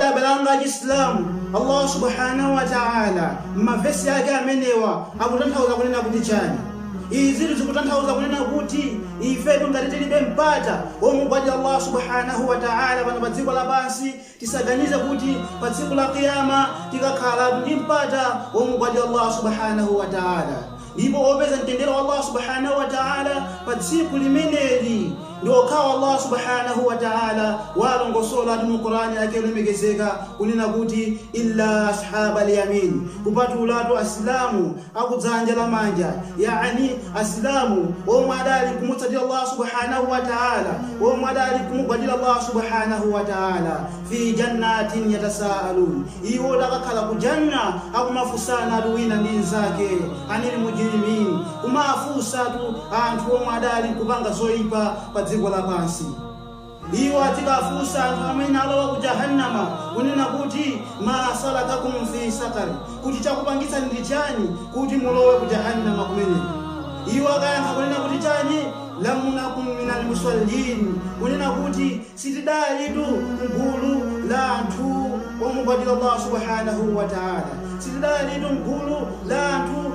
abale anga achisilamu allahu subhanahu wa taala m'mavesi ake amenewa akutanthauza kunena kuti chani izitu zikutanthauza kunena kuti ifetu ngati tilibe mpata womugwadira allahu subhanahu wa taala pano pa dziko lapansi Tisaganize kuti pa tsiku la Qiyaamah tikakhalatu ndi mpata womugwadira Allaah Subhaanah wa Ta'ala. Ndipo opeza mtendere wa Allaah Subhaanah wa Ta'ala pa tsiku limeneli ndi okhawa Allaah Subhaanah wa Ta'ala waalongosolatu mu Qur'aan Yake yolemekezeka kunena kuti, Illaa Ashaabal Yamiin, kupatulatu Asilamu a ku dzanja la manja, yaani Asilamu omwe adali kumutsatira Allah Subhaanahu wa Ta'ala, omwe adali kumugwadira Allah Subhaanahu wa Ta'ala, fii jannatin yatasaalun, iwo adakakhala ku Jannah akumafunsana-tu wina ndi mnzake, anil mujrimin, kumafunsa-tu anthu omwe adali kupanga zoipa pa dziko lapansi. Iwo adzikafunsa anthu amene alowa ku Jahannama kunena kuti, Maa salakakum fii saqar? Kuti chakupangitsani ndi chani kuti mulowe ku Jahannama kumeneko? Iwo akayankha kunena kuti chani? Lam nakum minal muswallin, kunena kuti sitidalitu m'gulu la anthu omugwadira Allah Subhaanahuu Wataalaa, sitidalitu m'gulu la anthu